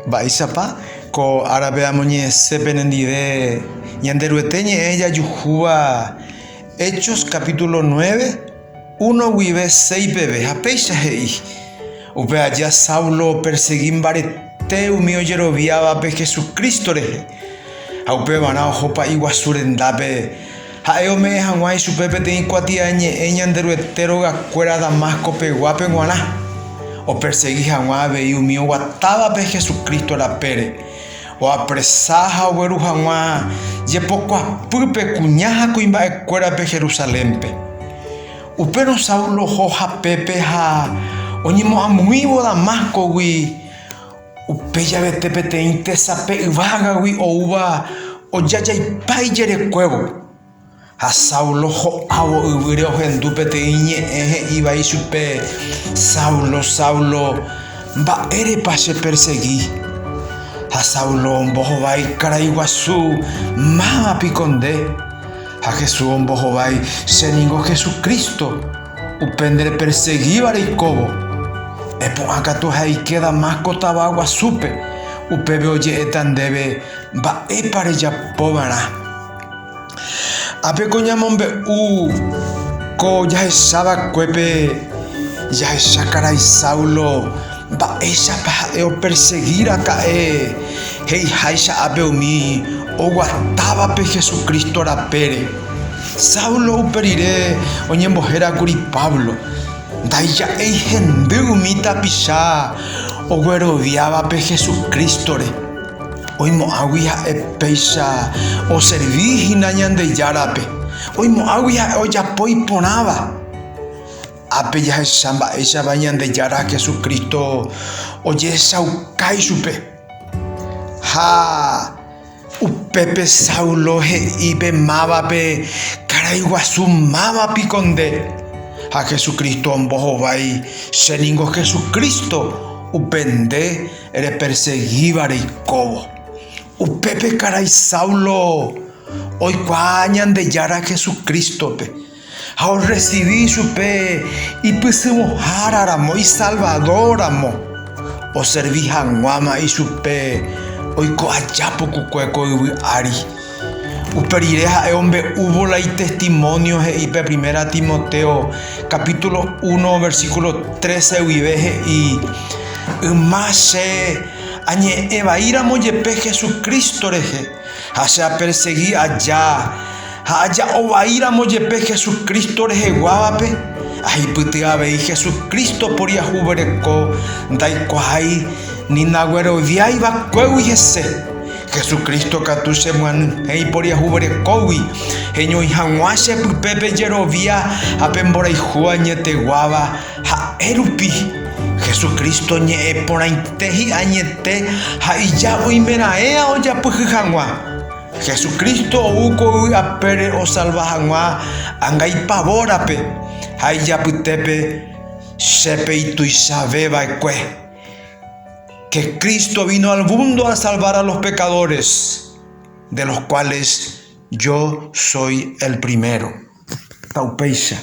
Mba'éichapa ko árape amoñe'ẽse penendive Ñanderuete ñe'ẽ jajuhúva Hechos capítulo nueve, uno guive seis peve, ha péicha he'i, Upe aja Saulo opersegi mbarete umi ojeroviávape Jesucristo rehe, ha upevarã oho pa'i guasu rendápe. Ha'e ome'ẽ hag̃ua ichupe peteĩ kuatiañe'ẽ Ñanderuete rogakuéra Damasco peguápe g̃uarã, opersegi hag̃ua avei umi oguatávape Jesucristo rapére, oapresa ha ogueru hag̃ua jepokuapýpe kuña ha kuimba'ekuérape Jerusalénpe. Upérõ Saulo oho hapépe ha oñemo'ãmuĩvo Damascogui. Upe javete peteĩ tesape yvágagui oúva ojajaipa ijerekuévo. Ha Saulo ho'ávo yvýre ohendu peteĩ ñe'ẽ he'i vai chupe, Saulo, Saulo, mba'érepa chepersegi? Ha Saulo ombohovái karai guasu, Máma piko nde? Ha Jesús ombohovái, Che ningo Jesucristo. Upe nderepersegíva reikóvo, epu'ã katu he'aike Damasco tava guasúpe, upépe oje'éta ndéve mba'épa rejapova'erã. Ápe ko ñamombe'u ko jahechavakuépe jahecha karai Saulo mba'éichapa ha'e opersegi raka'e he'iháicha ápe umi oguatávape Jesucristo rapére. Saulo upe rire oñembohérakuri Pablo, ndaija'éi hendy umi tapicha ogueroviávape Jesucrístore, oimo'ãgui ha'e péicha oservi hína Ñandejárape, oimo'ãgui ha'e ojapo iporãva. Ápe jahecha mba'éichapa Ñandejára Jesucristo ojehechaukái chupe ha. Upépe Saulo he'i pe mávape, Karai guasu máva piko nde? Ha Hesu Crísto ombohovái, Che ningo Hesu Crísto, upe nde repersegíva reikóvo. Upépe karai Saulo oikuaa Ñandejára Hesu Crístope. Ha orresivi chupe ipysyvõhára ramo, isalvador ramo, oservi hag̃uáma ichupe oiko aja pukukue ko yvy ári. Upe rire ha'e ombe'úvo la itestimonio he'i pe Primera Timoteo capítulo uno versículo trece guive he'i, Yma che añe'ẽ vaíramo jepe Jesucristo rehe ha che apersegi aja, Ha aja'o vaíramo jepe Jesucristo reheguávape, ahipyty avei Jesucristo poriahuvereko ndaikuaái ni nagueroviái vakuégui hese. Jesucristo katu chemyanyhẽ iporiahuverekógui heñói hag̃ua che pype pe jerovia ha pe mborayhu añeteguáva ha'e rupi. Jesucristo ñe'ẽ porãite hi'añete ha ija oimeraẽa ojapyhy hag̃ua. Hesu Crísto ou ko yvy apére osalva hag̃ua anga ipavórape ha ijapytépe che pe ituichave vaekue. Que Crísto vino al mundo a salvar a los pecadores, de los cuales yo soy el primero. Taupéicha.